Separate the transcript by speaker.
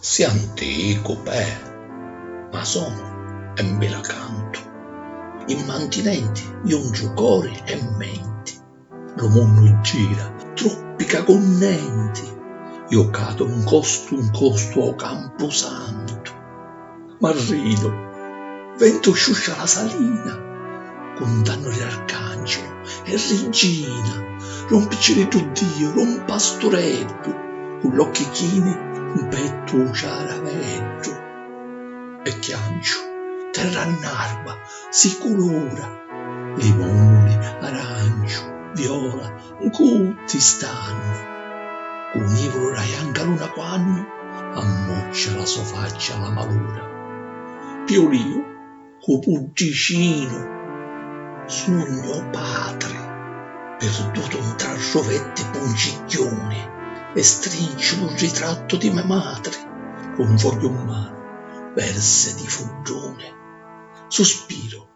Speaker 1: Si anticu, pè, ma sonu e mbi la cantu. Immantinenti jungiu cori e menti, lu munnu gira, truppica cu nenti, iu cadu 'ncostu 'ncostu ô campusantu. M'arridu, ventu sciuscia la salina, cuntannu li arcangelu e riggina, lu 'mpicciriddu Diu, lu 'mpastureddu, cu l'occhi chini 'mpettu 'u ciaraveddu. E chianciu, terra annarba, si culura, limuni, aranciu, viola, Ncu ti stannu. Cu nivulu ra janca luna quannu ammuccia la so faccia a la maluna. Pi u liu cu puddicinu sugnu o patri pirdutu ntra ruvetti puncigghiuni e strinciu lu ritrattu di me matri cu un fogghiu mmanu versi di fudduni. Suspiru.